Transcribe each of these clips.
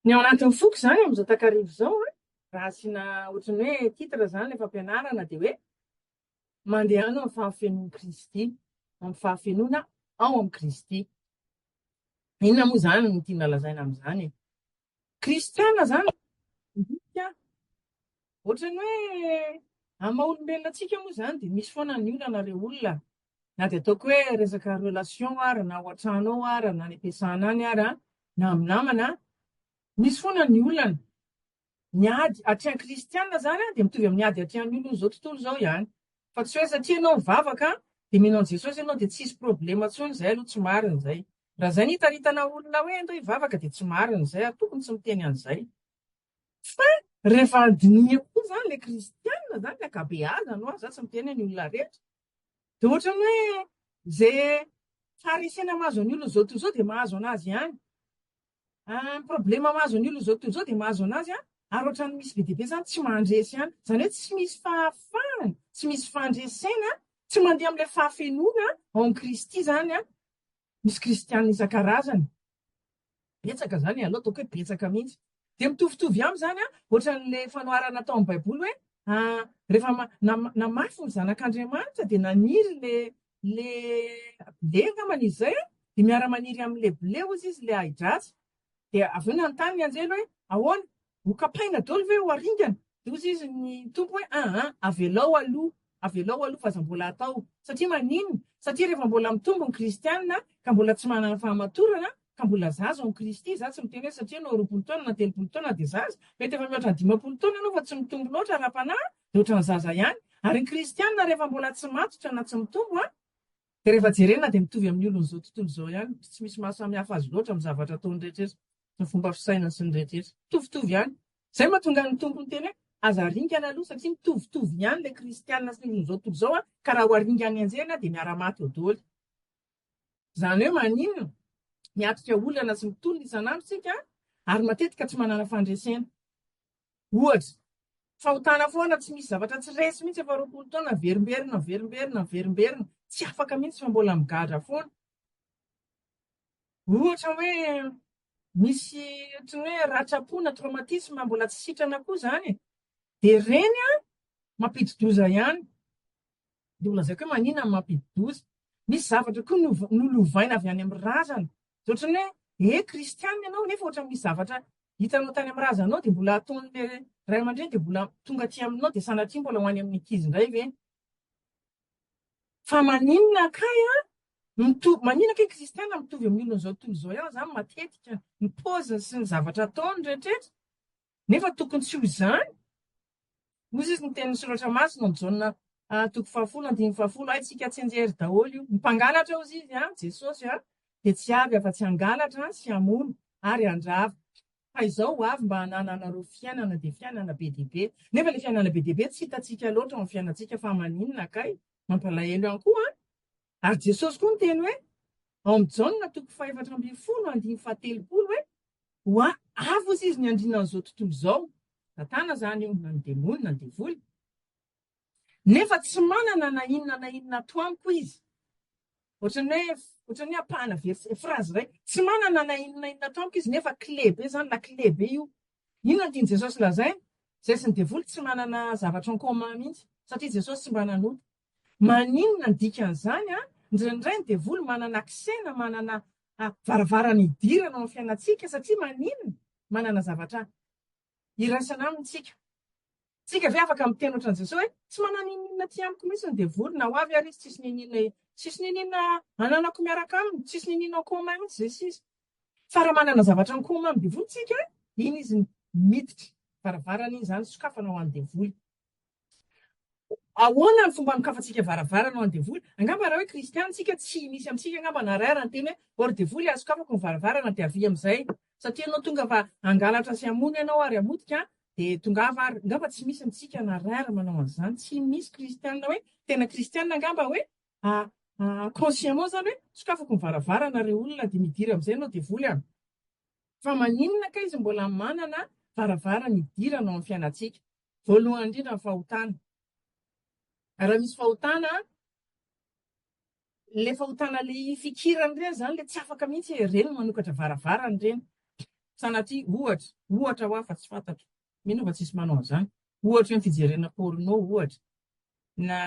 Ny ao anatin'ny foko izany amin'izao takariva izao an, raha asiana ohatran'ny hoe titre izany ilay fampianarana dia hoe mandehana amin'ny fahafenoan'i Kristy, amin'ny fahafenoana ao amin'i Kristy. Inona moa izany no tiana lazaina amin'izany e? Kristiana izany midika ohatran'ny hoe amin'ny maha olombelona antsika moa izany dia misy foana ny olana ilay olona, na dia ataoko hoe resaka relation ary na ao an-trano ao ary na any am-piasana any ary na amin'ny namana, misy foana ny olana. Ny ady atrehan'ny kristiana izany dia mitovy amin'ny ady atrehan'ny olona izao tontolo izao ihany. Fa tsy hoe satria ianao mivavaka dia mino an'i Jesosy ianao dia tsy hisy problema intsony, izay aloha tsy marina izay. Raha izay no hitaritana olona hoe andao hivavaka dia tsy marina izay ary tokony tsy miteny an'izay. Fa rehefa handiniha koa izany ilay kristiana izany, ny ankabeazany ho'a, za tsy miteny hoe ny olona rehetra, dia ohatran'ny hoe izay faharesena mahazo an'ny olona izao tontolo izao dia mahazo an'azy ihany. Ny problema mahazo an'io Lozao tontolo izao dia mahazo an'azy an, ary ohatran'ny misy be dia be izany tsy mandresy ihany. Izany hoe tsy misy fahafahana, tsy misy fandresena, tsy mandeha amin'ilay fahafenoana ao amin'i Kristy izany an, misy kristiana isan-karazany. Betsaka izany e, aleo ataoko hoe betsaka mihitsy. Dia mitovitovy aminy izany an, ohatran'ilay fanoharana atao amin'ny Baiboly hoe, rehefa namafy ny Zanak'Andriamanitra dia naniry ilay Le blé angamba ny izay a, dia miara maniry amin le blé ozy izy le ahidratsy, dia avy eo nanontany ny anjely hoe ahoana? ho kapaina dolo ve ho aringana? dia ozy izy ny tompo hoe aa avelao aloha avelao aloha fa aza mbola atao satria maninona? satria rehefa mbola mitombo ny kristiana ka mbola tsy manana fahamatorana ka mbola zaza ao amin'i Kristy, za tsy miteny hoe satria anao roapolo taona na telopolo taona dia zaza, mety efa mihoatra ny dimampolo taona ianao fa tsy mitombo loatra ara-panahy, dia ohatran'ny zaza ihany, ary ny kristiana rehefa mbola tsy matotra na tsy mitombo an, dia rehefa jerena dia mitovy amin'ny olon'izao tontolo izao ihany, tsy misy maha samy hafa azy loatra amin'ny zavatra ataony rehetra, ny fomba fisainany sy ny rehetra, mitovitovy ihany, izay no mahatonga ny Tompo miteny hoe aza aringana aloha satria mitovitovy ihany ilay kristiana sy ny olon'izao tontolo izao an, ka raha ho aringany enjehina dia miara-maty eo doly. Izany hoe maninona? Miatrika olana sy ny tolona isan'andro isika ary matetika tsy manana fandresena. Ohatra, fahotana foana, tsy misy zavatra tsy resy mihitsy efa roapolo taona, averimberina, averimberina, averimberina, tsy afaka mihitsy fa mbola migadra foana. Ohatra hoe misy ohatran'ny hoe ratram-po na traumatisme mbola tsy sitrana koa izany e. Dia ireny an, mampidi-doza ihany. Dia ho lazaiko hoe maninona no mampididoza. Misy zavatra koa no nolovaina avy any amin'ny razana. Dia ohatran'ny hoe eh kristiana ianao nefa ohatra misy zavatra hitanao tany amin'ny razanao dia mbola ataon'ilay ray aman-dreny dia mbola tonga aty aminao dia sanatria mbola ho any amin'ny ankizy indray ve? Fa maninona kay an? Mitovy, maninona kay kristiana mitovy amin'ny olona izao tontolo izao ihany izany matetika ny paoziny sy ny zavatra ataony rehetra rehetra? Nefa tokony tsy ho izany. Hoy izy, ny tenin'ny Soratra Masina ao Jaona ah, toko fahafolo andininy fahafolo, Haintsika tsinjery daholo io. Ny mpangalatra, hozy izy, an, Jesosy an, dia tsy avy afa-tsy hangalatra an, sy hamono, ary handrava. Fa izao ho avy mba hanananareo fiainana, dia fiainana be dia be. Nefa ilay fiainana be dia be tsy hitantsika loatra ao amin'ny fiainantsika, fa maninona kay? Mampalahelo ihany koa an! Ary Jesosy koa niteny hoe, ao amin'i Jaona toko fahefatra ambin'ny folo andininy fahatelopolo hoe, Hoa avy osa izy ny andriana an'izao tontolo izao, Satana izany io, na ny demony, na ny devoly, nefa tsy manana na inona na inona ato amiko izy. Ohatran'ny hoe, ohatran'ny hoe ampahana verset, phrase iray, tsy manana na inona na inona ato amiko izy, nefa kle be izany, na kle be io. Inona no tian'i Jesosy lazaina? Izay sy ny devoly tsy manana zavatra en commun mihitsy, satria Jesosy tsy mba nanota. Maninona ny dikan'izany an? Indraindray ny devoly manana accès na manana varavarana hidirana ao amin'ny fiainantsika satria maninona? Manana zavatra iraisana aminy tsika. Tsika ve afaka miteny ohatran'i Jesosy hoe tsy manana ininona aty amiko mihitsy ny devoly na ho avy ary izy tsisy n'ininona tsisy n'ininona ananako miaraka aminy, tsisy n'ininona en commun mihitsy izay sisa. Fa raha manana zavatra en commun amin'ny devoly tsika, iny izy miditra varavarana iny izany sokafana ho an'ny devoly. Ahoana ny fomba anokafantsika varavarana ho an'ny devoly? Angamba raha hoe kristiana tsika tsy misy amintsika angamba na iray ara niteny hoe ô ry devoly asokafako ny varavarana dia avia amin'izay satria ianao tonga mba hangalatra sy hamono ianao ary hamotika dia tongava ary angamba tsy misy amintsika na iray ara manao an'izany tsy misy kristiana hoe tena kristiana angamba hoe consciemment izany hoe sokafako ny varavarana ireo olona dia midira amin'izay ianao devoly a fa maninona kay izy mbola manana varavarana idirana ao amin'ny fiainantsika Voalohany indrindra ny fahotana. Raha misy fahotana, ilay fahotana ilay ifikirana ireny izany ilay tsy afaka mihitsy e, ireny no manokatra varavarana ireny. Sanatria, ohatra, ohatra hoa fa tsy fantatro, mino aho fa tsisy manao an'izany. Ohatra hoe ny fijerena porno ohatra, na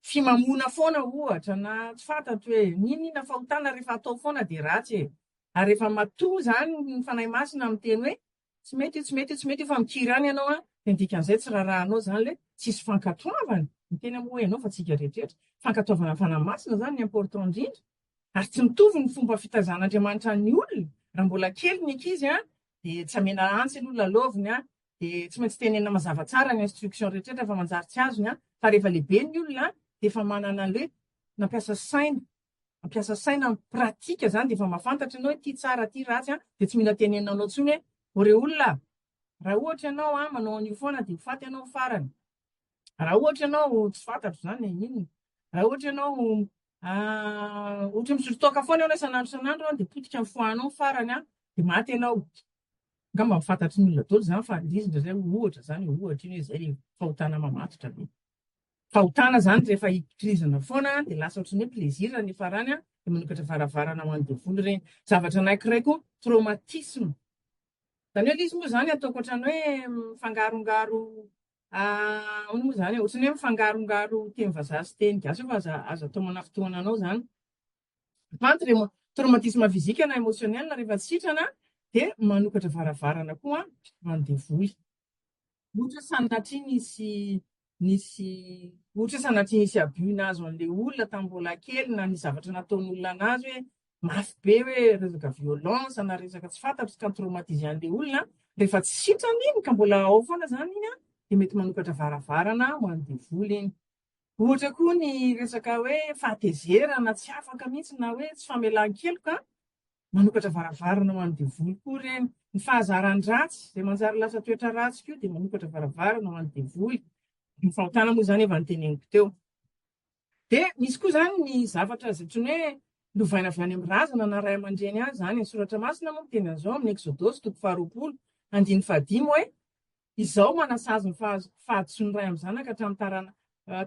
fimamoana foana ohatra, na tsy fantatro hoe n'inona fahotana rehefa atao foana dia ratsy e. Ary rehefa matoa izany ny Fanahy Masina miteny hoe Tsy mety io, tsy mety io, tsy mety io fa mikiry any ianao an! Dia ny dikan'izay tsy rarahanao izany ilay tsisy fankatoavana. Ny tena moa ianao fa tsy isika rehetrarehetra. Fankatoavana ny Fanahy Masina izany no important indrindra. Ary tsy mitovy ny fomba fitaizan'Andriamanitra ny olona. Raha mbola kely ny ankizy an, dia tsy amena antsy aloha lalaoviny an, dia tsy maintsy tenenina mazava tsara ny instruction rehetrarehetra fa manjary tsy azony an, fa rehefa lehibe ny olona an, dia efa manana an'ilay hoe nampiasa saina, Mampiasa saina amin'ny pratika izany dia efa mahafantatra ianao hoe ity tsara ity ratsy an, dia tsy mila tenenina anao intsony hoe ô re olona a! Raha ohatra ianao an manao an'io foana dia ho faty ianao amin'ny farany. Raha ohatra ianao tsy fantatro izany e, inona? Raha ohatra ianao an ohatra misotro toaka foana ianao isan'andro isan'andro an dia potika amin'ny foie anao ny farany an dia maty ianao. Angamba efa fantatry ny olona daholo izany fa indrisy indraindray ohatra izany e, ohatra iny hoe izay ilay fahotana mamatotra be. Fahotana izany rehefa hikirizana foana dia lasa ohatry ny hoe plaisir ny farany dia manokatra varavarana ho an'ny devoly ireny. Zavatra anankiray koa traumatisme. Izany hoe ilay izy moa izany ataoko ohatry ny hoe mifangarongaro ahoana moa izany e, ohatry ny hoe mifangarongaro teny vazaha sy teny gasy eo fa aza aza atao manafitohana anao izany. Vant remo, traumatisme physique na emotionnel rehefa sitrana dia manokatra varavarana koa an devoly. Ohatra sanatria nisy nisy ohatra sanatria nisy abus nahazo an'le olona tamin'ny mbola kely na ny zavatra nataon'olona anazy hoe mafy be hoe resaka violence na resaka tsy fantatro ka traumatise an'le olona rehefa tsy sitrana iny ka mbola ao foana zany iny dia mety manokatra varavarana ho an'ny devoly iny. Ohatra koa ny resaka hoe fahatezerana tsy afaka mihitsy na hoe tsy famelan-keloka an! Manokatra varavarana ho an'ny devoly koa ireny. Ny fahazaran-dratsy izay manjary lasa toetra ratsy koa dia manokatra varavarana ho an'ny devoly. Ny fahotana moa izany efa noteneniko teo. Dia misy koa izany ny zavatra izay antsoina hoe lovaina avy any amin'ny razana na ray aman-dreny any izany. Ny Soratra Masina moa miteny an'izao amin'ny Eksodosy toko faharoapolo andininy fahadimy hoe Izao manasazy ny fahadisoan'ny ray amin'ny zanaka hatramin'ny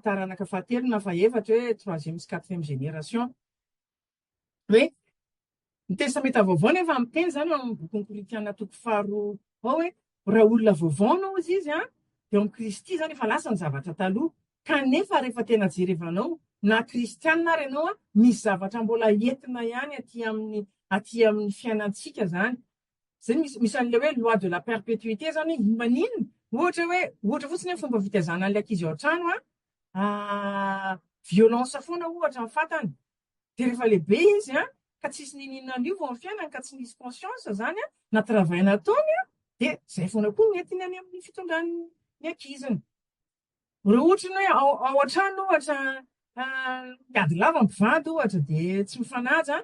taranaka fahatelo na fahefatra hoe troisième sy quatrième génération. Hoe ny Testamenta Vaovao nefa miteny izany ao amin'ny bokin'ny Korintiana toko faharoa ao hoe raha olona vaovao no hozy izy an, dia ao amin'ny Kristy izany efa lasa ny zavatra taloha. Kanefa rehefa tena jerevanao na kristiana ary ianao an, misy zavatra mbola entina ihany aty amin'ny aty amin'ny fiainantsika izany. Zay misy misy an'ilay hoe loi de la perpétuité zany hoe maninona ohatra hoe ohatra fotsiny hoe fomba fitaizana an'ilay ankizy ao an-trano a ah, violence foana ohatra ny fatany dia rehefa lehibe izy a ka tsisy nininona an'io vao amin'ny fiainany ka tsy nisy conscience zany a na travail nataony a dia zay foana koa ny entiny any amin'ny fitondran'ny ankiziny Raha ohatra ny hoe ao ao an-trano ohatra miady lava ny mpivady ohatra dia tsy mifanaja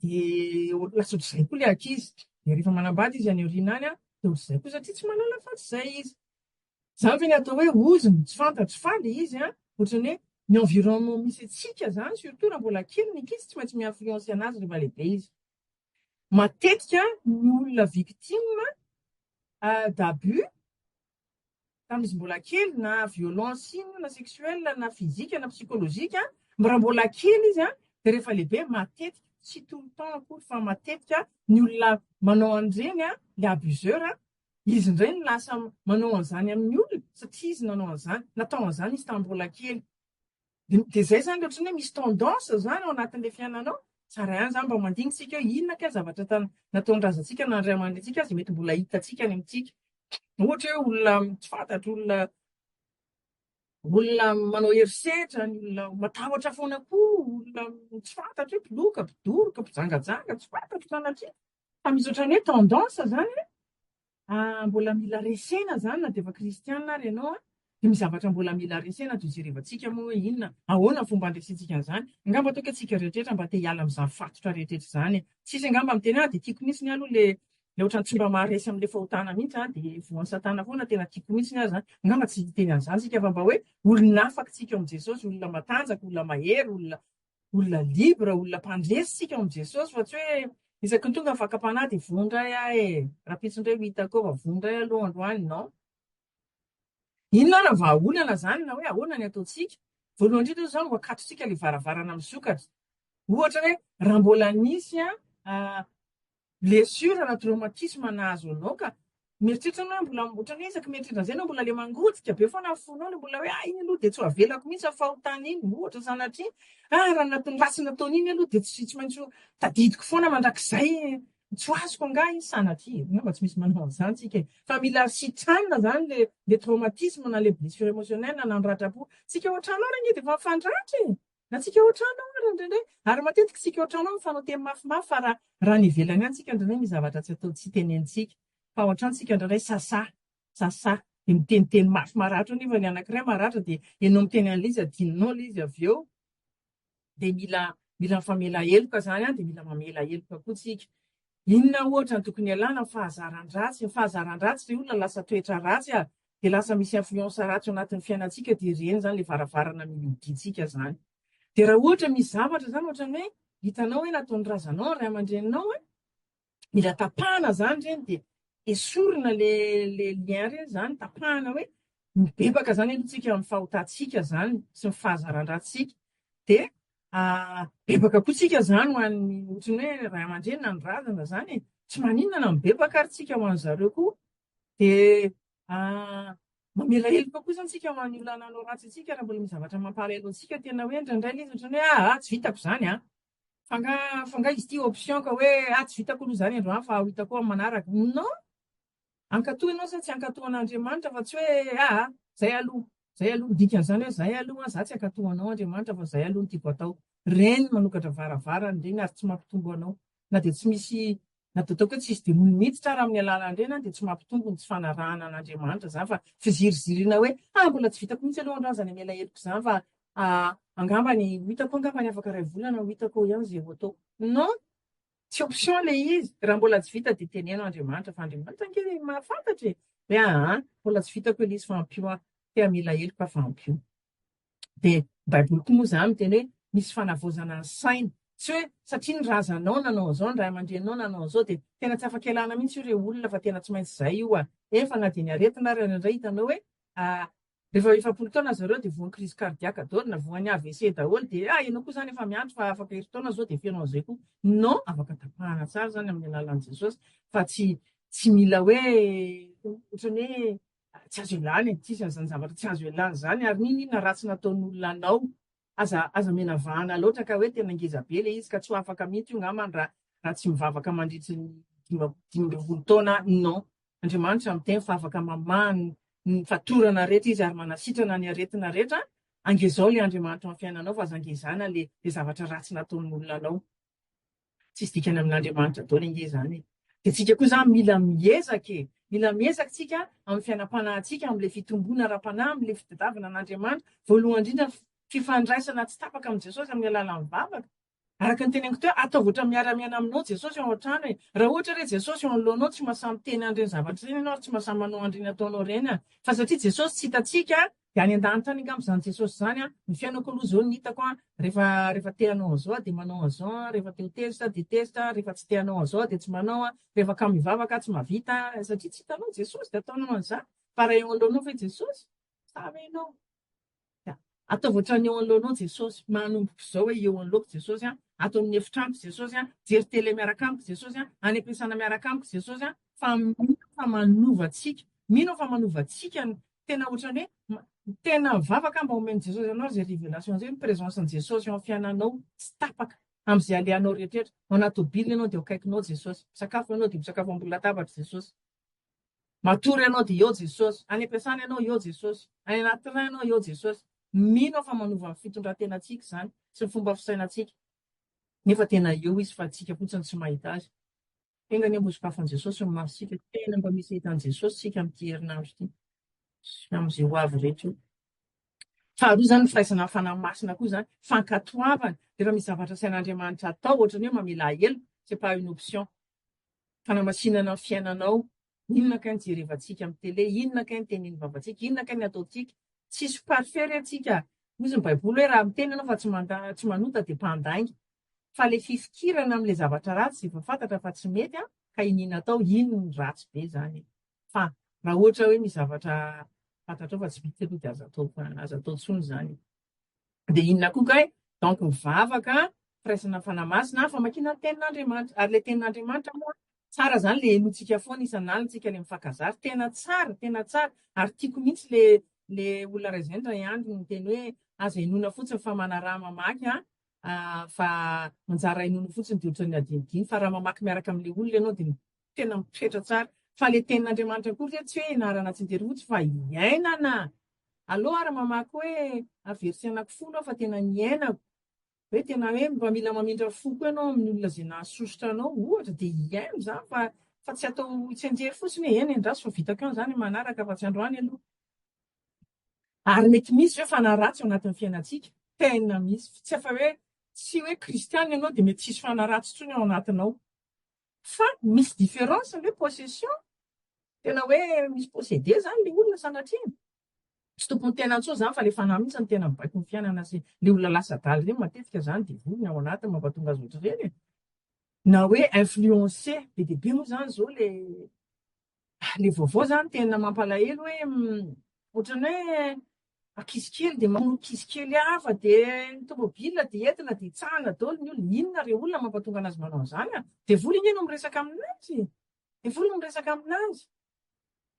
dia ho- lasa ohatr'izay koa ilay ankizy. Dia rehefa manambady izy any aoriana any an, dia ohatr'izay koa satria tsy mahalala afa-tsy izay izy. Izany ve ny atao hoe ozy no tsy fantatro fa ilay izy an, ohatrany hoe ny environnement misy antsika izany surtout raha mbola kely ny ankizy tsy maintsy mi-influencer anazy rehefa lehibe izy. Matetika ny olona victime d'abus tamin'izy mbola kely na violence inona na sexuelle na physique na psychologique a, mb raha mbola kely izy a dia rehefa lehibe matetika, tsy tout le temps akory fa matetika ny olona manao an'ireny a, ilay abuseur a, izy indray no lasa manao an'izany amin'ny olona satria izy nanao an'izany, natao an'izany izy tamin'ny mbola kely. Dia dia izay izany ohatran'ny hoe misy tendance izany ao anatin'ilay fiainanao. Tsara ihany izany mba mandinitsika hoe inona kay zavatra tan- nataon'ny razantsika na ny ray aman-drenintsika aza mety mbola hitantsika any amintsika. Ohatra hoe olona tsy fantatro, olona olona manao herisetra, ny olona matahotra foana koa, olona tsy fantatro hoe mpiloka, mpidoroka, mpijangajanga, tsy fantatro sanatria. Fa misy ohatran'ny hoe tendance izany hoe Ah, mbola mila resena izany na dia efa kristiana ary ianao an! Dimy zavatra mbola mila resena ato ijerevantsika moa hoe inona, ahoana fomba handresentsika an'izany. Angamba toa ka isika rehetra mba te hiala amin'izany fatotra rehetra izany. Tsisy angamba miteny hoe ah, dia tiako mihitsy ny ahy aloha ilay ilay ohatran'ny tsy mba maharesy amin'ilay fahotana mihitsy aho, dia voan'i Satana foana, tena tiako mihitsy ny ahy izany. Angamba tsy hiteny an'izany isika fa mba hoe olona afaka isika ao amin'i Jesosy, olona matanjaka, olona mahery, olona olona libre, olona mpandresy isika ao amin'i Jesosy fa tsy hoe isaky ny tonga fakam-panahy dia voa indray aho e, rahampitso indray ho hitako eo fa voa indray aloha androany, non. Inona ary ny vahaolana izany na hoe ahoana ny ataontsika? Voalohany indrindra izao no akatontsika ilay varavarana misokatra. Ohatra hoe raha mbola nisy an, Blessure na traumatisme nahazo anao ka mieritreritra anao hoe mbola ohatran'ny hoe isaky mieritreritra an'izay anao mbola le mangotika be foana ny fonao le mbola hoe ah iny aloha dia tsy ho avelako mihitsy ny fahotana iny ohatra sanatria ah raha anatin'ny ratsy nataony iny aloha dia tsy tsy maintsy ho tadidiko foana mandrakizay tsy ho azoko angaha iny sanatria angamba tsy misy manao an'izany tsika e fa mila sitrana izany le le traumatisme na le blessure émotionnelle na nanoratrapo tsika ohatranao re anie dia efa mifandratra e Antsika ohatranao ary indraindray, ary matetika isika ohatranao mifanao teny mafimafy fa raha raha ny ivelany any tsika indraindray misy zavatra tsy atao tsy tenenintsika fa ohatran tsika indraindray sasà sasà dia miteniteny mafy maratra eo nefa ny anankiray maratra dia enao miteny an'ilay izy adinonao ilay izy avy eo dia mila mila mifamela heloka izany an dia mila mamela heloka koa tsika inona ohatra ny tokony ialana fahazaran-dratsy ny fahazaran-dratsy ry olona lasa toetra ratsy a dia lasa misy influence ratsy ao anatin'ny fiainantsika dia ireny izany ilay varavarana mihodintsika izany. Dia raha ohatra misy zavatra izany ohatran'ny hoe hitanao hoe nataon'ny razanao ny ray aman-dreninao an, mila tapahana izany ireny dia esorina ilay lien ireny izany, tapahana hoe mibebaka izany aloha tsika amin'ny fahotantsika izany sy ny fahazaran-drantsika. Dia ah, bebaka koa tsika izany ho an'ny ohatran'ny hoe ray aman-dreny na ny razana izany e. Tsy maninona na mibebaka ary tsika ho an'izareo koa Dia mamela heloka koa izany isika ho an'ny olona nanao ratsy antsika raha mbola misy zavatra mampalahelo antsika. Tena hoe indraindray ilay izy ohatran'ny hoe ah, ah tsy vitako izany an. Fa nga, fa nga izy ity option ka hoe ah tsy vitako aloha izany androany fa ho hitako amin'ny manaraka. Non! Ankatoy ianao sa tsy ankatoan'Andriamanitra fa tsy hoe ah, ah izay aloha. Zay aloha ny dikany zany hoe zay aloha za tsy akato anao Andriamanitra fa zay aloha no tiako atao Ren manokatra varavarany reny ary tsy mampitombo anao na dia tsy misy na dia ataoko hoe tsisy demony miditra ary amin'ny alalan reny dia tsy mampitombo ny tsy fanarahana an Andriamanitra zany fa fizirizirina hoe ah mbola tsy vitako mihitsy aloha androany zany hamela heloko zany fa ah angambany ho hitako angambany afaka iray volana ho hitako ihany ze ho ataoko non Tsy option le izy, raha mbola tsy vita dia teneno Andriamanitra fa Andriamanitra ange le mahafantatra e! Dia aa, mbola tsy vitako elisy fa ampio aho, tea mila heloka fa ampio. Dia baiboly koa moa izany miteny hoe misy fanavaozana ny saina, tsy hoe satria ny razanao nanao an'izao, ny ray aman-dreninao nanao an'izao dia tena tsy afaka ialana mihitsy io re olona fa tena tsy maintsy izay io a! Efa na dia ny aretina ary indray hitanao hoe Rehefa eo efapolo taona zareo dia voan'ny crise cardiaque daholo na voan'ny avc daholo dia ah ianao koa zany efa miandry fa afaka herintaona zao dia feno an'izay koa. Non, afaka tapahana tsara zany amin'ny alalan'i Jesosy fa tsy tsy mila hoe ohatran'ny hoe tsy azo ialana e, tsisy an'izany zavatra tsy azo ialana izany ary n'inon'inona ratsy nataon'olona anao Aza aza omena vahana loatra ka hoe tena ngeza be ilay izy ka tsy ho afaka mihitsy io ngamba raha raha tsy mivavaka mandritry ny dima- dimy ambin'ny folo taona non Andriamanitra miteny fa afaka mamaha ny ny fatorana rehetra izy ary manasitrana ny aretina rehetra angezao ilay Andriamanitra ao amin'ny fiainanao fa aza ngezana ilay ilay zavatra ratsy nataon'olona anao Tsisy dikany amin'Andriamanitra daholo ange izany e. Dia tsika koa izany mila miezaka e. Mila miezaka tsika amin'ny fiainam-panahintsika, amin'ilay fitomboana ara-panahy, amin'ilay fitadiavana an'Andriamanitra, voalohany indrindra fifandraisana tsy tapaka amin'i Jesosy amin'ny alalan'ny vavaka. Araka ny teneniko teo, ataovy ohatra miara-miaina aminao Jesosy ao an-trano e. Raha ohatra re Jesosy eo anoloanao, tsy mahasahy miteny an'ireny zavatra ireny ianao ary tsy mahasahy manao an'ireny ataonao ireny an. Fa satria Jesosy tsy hitantsika an, Dia any an-danitra any angamba izany Jesosy izany an! Ny fiainako aloha izao ny hitako an, rehefa, rehefa te hanao an'izao aho dia manao an'izao an, rehefa te ho tezitra aho dia tezitra an, rehefa tsy te hanao an'izao aho dia tsy manao an, rehefa kamo hivavaka aho tsy mahavita an, satria tsy hitanao Jesosy dia ataonao an'izany, fa raha eo anoloanao ve Jesosy? Sa ve ianao? Dia ataovy ohatran'ny eo anoloanao Jesosy, manomboka izao hoe eo anoloako Jesosy an, ato amin'ny efitrano Jesosy an, jery tele miaraka amiko Jesosy an, any am-piasana miaraka amiko Jesosy an, fa mino aho fa manova antsika, mino aho fa manova antsika ny, tena ohatran'ny hoe tena mivavaka mba omen'i Jesosy anao izay révélation izay, ny présence-n'i Jesosy eo amin'ny fiainanao tsy tapaka amin'izay alehanao rehetrarehetra, ao anaty tôbily ianao dia eo akaikinao Jesosy, misakafo ianao dia misakafo ambony latabatr'i Jesosy, matory ianao dia eo Jesosy, any am-piasana ianao eo Jesosy, any anaty train ianao eo Jesosy, mino aho fa manova ny fitondran-tenantsika izany sy ny fomba fisainantsika, nefa tena eo Izy fa antsika fotsiny tsy mahita Azy. Enga anie mba sokafan'i Jesosy ny masontsika, tena mba misy ahitan'i Jesosy isika amin'ity herinandro ity, sy amin'izay ho avy rehetra eo. Faharoa izany ny firaisana amin'ny Fanahy Masina koa izany, fankatoavana, rehefa misy zavatra asain'Andriamanitra atao, ohatra ny hoe mamela heloka, c'est pas une option, fanamasinana ny fiainanao, Inona kay ny jerevantsika amin'ny tele, inona kay ny tenin'ny vavantsika, inona kay ny ataontsika, tsisy parfait re tsika, hozy ny baiboly hoe raha miteny ianao fa tsy manda, tsy manota dia mpandainga, fa le fifikirana amle zavatra ratsy zay efa fantatra fa tsy mety an, ka iniana atao, iny no ratsy be zany e, fa raha ohatra hoe misy zavatra fantatrao fa tsy mety aloha dia aza atao, aza atao tsony zany e. Dia inona koa kay? Donc ny vavaka, firaisana fanahy masina, famakiana ny tenin'Andriamanitra. Ary ilay tenin'Andriamanitra moa, tsara izany ilay henointsika foana isan'alina, isika ilay mifankazary, tena tsara, tena tsara. Ary tiako mihitsy ilay ilay olona iray izay indray andro niteny hoe aza henoina fotsiny fa manaraha mamaky an, fa anjara henoina fotsiny dia ohatran'ny adinodino, fa raha mamaky miaraka amin'ilay olona ianao dia tena mipetra tsara fa le tenin'Andriamanitra koa ve tsy hoe enarana tsy de rojo fa iainana alou ary mamaky hoe a verset anaky folo aho fa tena niainako hoe tena hoe mba mila mamindra foko ianao amin'ny olona zay nahasosotra anao ohatra de iaino zany fa fa tsy atao tsenjery fotsiny hoe eny endraso fa vitako ihany zany manaraka fa tsy androany aloha ary mety misy ve fa naratsy ao anatin'ny fiainantsika tena misy tsy efa hoe tsy hoe kristiana ianao de mety tsisy fanaratsy tsony ao anatinao Fa misy différence ny hoe possession, tena hoe misy posséder zany le olona sanatria tsy tompony tena intsony zany fa le fanahy mintsy no tena mibaiko ny fiainana sy le olona lasa adala ireny matetika zany devoly ny ao anatiny mampatonga azy ohatr'ireny e! na hoe influencer be dia be moa zany zao le Ilay vaovao izany tena mampalahelo hoe ohatran'ny hoe ankizy kely dia mamono ankizy kely hafa dia ny tomobile dia entina dia hitsahana daholo ny olona. Inona re olona mampatonga anazy manao an'izany an? Devoly ange no miresaka aminazy. Devoly no miresaka aminazy.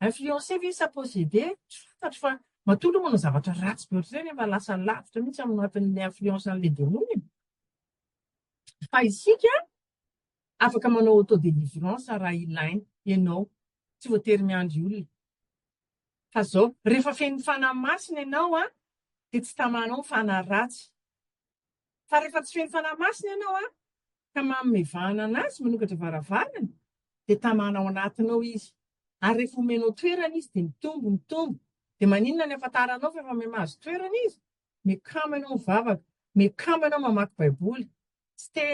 Influencé ve sa possédé? Tsy fantatro fa matoa aloha manao zavatra ratsy be ohatr'izay nefa lasa lavitra mihitsy amin'ny anatin'ny influence an'ilay demoly. Fa isika Afaka manao auto délivrance raha ilaina ianao, tsy voatery miandry olona. Fa zao, rehefa fen'ny Fanahy Masina ianao an, dia tsy tamanao ny fanahy ratsy. Fa rehefa tsy fen'ny Fanahy Masina ianao an, ka mamevahana an'Azy manokatra varavarana, dia tamana ao anatinao Izy. Ary rehefa omenao toerana Izy, dia mitombo, mitombo. Dia maninona ny afantaranao fa efa mahazo toerana Izy? Miakama ianao mivavaka. Miakama ianao mamaky Baiboly. Tsy te,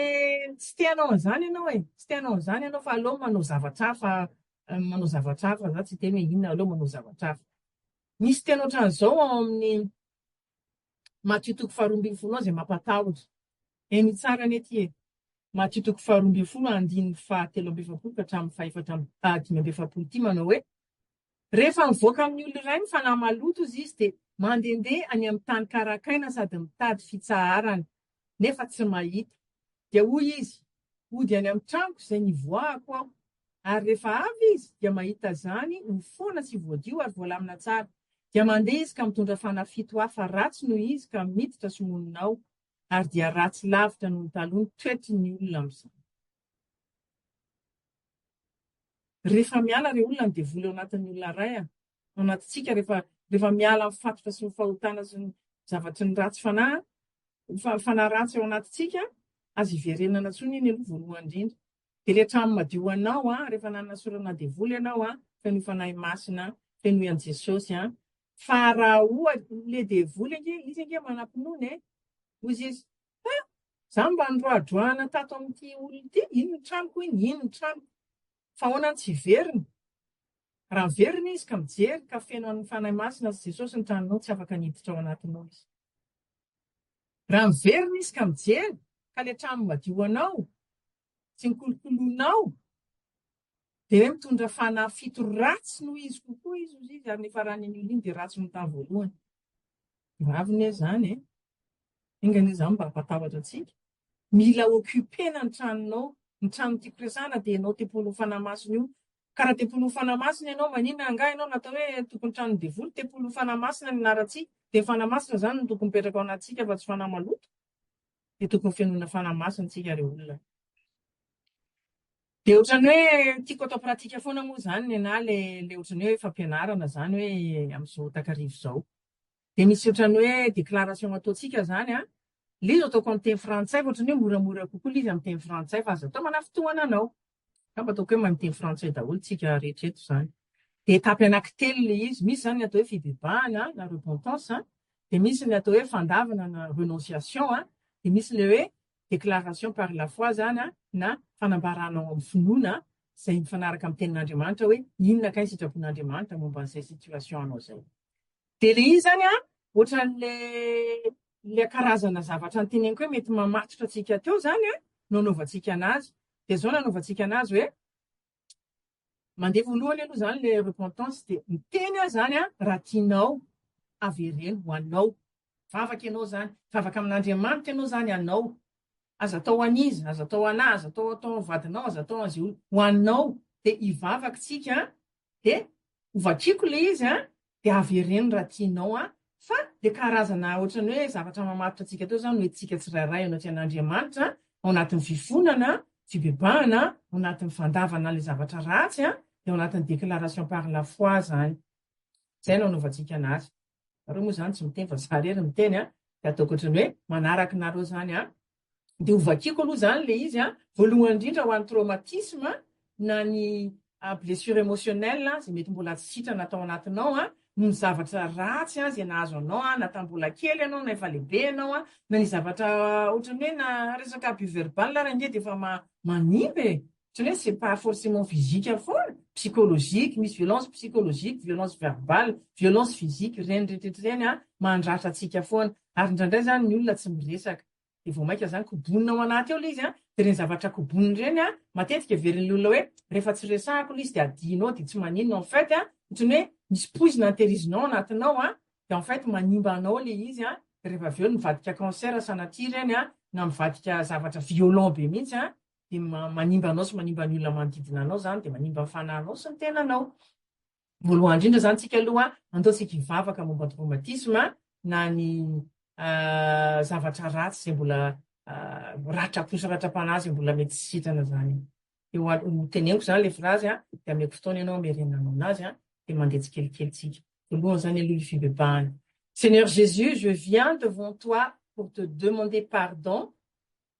tsy te hanao an'izany ianao e. Tsy te hanao an'izany ianao fa aleo manao zavatra hafa, manao zavatra hafa. Izaho tsy dia eny hoe inona, aleo manao zavatra hafa. Misy teny ohatran'izao ao amin'ny Matio toko faharoa ambin'ny folo ao izay mampatahotra. Heno tsara anie ity e. Matio toko faharoa ambin'ny folo andininy fahatelo amby efapolo ka hatramin'ny fahefatra amby, dimy amby efapolo ity manao hoe, Rehefa mivoaka amin'ny olona iray ny fanahy maloto hozy izy dia mandehandeha any amin'ny tany karakaina sady mitady fitsaharana, nefa tsy mahita. Dia hoy izy, Hody any amin'ny tranoko izay nivoahako aho. Ary rehefa avy izy dia mahita izany ho foana sy voadio ary voalamina tsara. Dia mandeha izy ka mitondra fanahy fito hafa ratsy noho izy ka miditra sy monina ao. Ary dia ratsy lavitra noho ny taloha ny toetry ny olona amin'izany. Rehefa miala ireo olona ny devoly ao anatin'ny olona iray ao anatintsika, rehefa rehefa miala ny fatotra sy ny fahotana sy ny zavatry ny ratsy fanahy, fa- fanahy ratsy ao anatintsika, aza hiverenana intsony iny aloha voalohany indrindra. Dia ilay trano madio anao an, rehefa nanana sorona devoly ianao an, fenoy Fanahy Masina, fenoy an'i Jesosy an. Fa raha ohatra, ilay devoly ange, izy ange manam-pinoana e. Hoy izy, Fa za mba nidroadroana tato amin'ity olona ity, iny ny tranoko iny, iny ny tranoko. Fa ahoana no tsy hiverina? Raha miverina izy ka mijery ka feno an'ny Fanahy Masina sy Jesosy ny tranonao, tsy afaka ny hiditra ao anatinao izy. Raha miverina izy ka mijery ka ilay trano madio ho anao, sy ny kolokoloanao dia hoe mitondra fanahy fito ratsy noho izy kokoa izy ozy izy ary ny faran'iny olona iny dia ratsy ny tamin'ny voalohany. Gravy anie izany e. Enga anie izany mba hampatahotra antsika. Mila occupena ny tranonao, ny tranon'ny tiako resahana dia ianao tempolin'ny fanahy masina io. Ka raha tempolin'ny fanahy masina ianao, maninona angaha ianao natao hoe tokony tranon'ny devoly? Tempolin'ny fanahy masina ny anarantsika. Dia fanahy masina izany no tokony mipetraka ao anatintsika fa tsy fanahy maloto. dia tokony fenoina fanahy masina isika ry olona. Dia ohatran'ny hoe tiako atao pratika foana moa izany nenahy ilay ilay ohatran'ny hoe fampianarana izany hoe amin'izao takariva izao. Dia misy ohatran'ny hoe déclaration ataontsika izany an, ilay izy ataoko amin'ny teny frantsay fa ohatran'ny hoe moramora kokoa ilay izy amin'ny teny frantsay fa aza atao manafitohana anao. Angamba ataoko hoe mahay miteny frantsay daholo tsika rehetra eto izany. Dia etapy anankitelo ilay izy. Misy izany ny atao hoe fibebahana na repentance, dia misy ny atao hoe fandavana na renonciation, dia misy ilay hoe déclaration par la foi izany na fanambarana ao amin'ny finoana izay mifanaraka amin'ny tenin'Andriamanitra hoe inona kay ny sitrapon'Andriamanitra momba an'izay situation anao izay. Dia ilay izy izany an, ohatran'ilay ilay karazana zavatra noteneniko hoe mety mamatotra antsika teo izany an, no anaovantsika anazy. Dia izao no anaovantsika anazy hoe, mandeha voalohany aloha izany ilay repentance dia miteny aho izany an, raha tianao avereno ho anao. Vavaka ianao izany, vavaka amin'Andriamanitra ianao izany anao. Aza atao ho an'iza, aza atao ho an'ahy, aza atao atao ho an'ny vadinao, aza atao ho an'izay olona, ho anao. Dia hivavaka isika de ho vakiako le izy an, de avereno raha tianao an, fa le karazana ohatrany hoe zavatra mamaritra antsika teo zany hoe tsika tsirairay anatreha an'Andriamanitra ao anatin'ny fifonana, fibebahana, ao anatin'ny fandavana an'le zavatra ratsy an, de ao anatin'ny déclaration par la foi zany. Zay no anaovantsika anazy. Nareo moa zany tsy miteny fa za rery miteny an, de ataoko ohatrany hoe manaraka nareo zany an, Dia ho vakiako aloha izany ilay izy an, voalohany indrindra ho an'ny traumatisme na ny blessure emotionnelle an, izay mety mbola tsy sitrana tao anatinao an, noho ny zavatra ratsy an izay nahazo anao an, na tamin'ny mbola kely ianao na efa lehibe ianao an, na ny zavatra ohatran'ny hoe na resaka abus verbal ary ange dia efa manimba e! Tsy hoe c'est pas forcement physique foana, psychologique, misy violence psychologique, violence verbale, violence physique, ireny rehetra ireny an, mandratra antsika foana. Ary indraindray izany ny olona tsy miresaka. Dia vao mainka izany kobonina ao anaty ao ilay izy an, dia ireny zavatra kobonina ireny an, matetika heverin'ny olona hoe rehefa tsy resahako ilay izy dia adinao dia tsy maninona, en fait an, ohatran'ny hoe misy poizina antehirizina ao anatinao an, dia en fait manimba anao ilay izy an, dia rehefa avy eo mivadika cancer sanatria ireny an, na mivadika zavatra violent be mihitsy an, dia manimba anao sy manimba ny olona manodidina anao izany, dia manimba ny fanahinao sy ny tenanao. Voalohany indrindra izany tsika aloha andao tsika hivavaka momba ny traumatisme na ny zavatra ratsy izay mbola ratra-po sy ratra-panahy izay mbola mety tsy sitrana izany. Dia ho teneniko izany ilay frazy a, dia ameko fotoana ianao hamerenanao anazy a, dia mandeha tsikelikely tsika. Voalohany izany aloha ilay fibebahana. Seigneur Jésus, je viens devant toi pour te demander pardon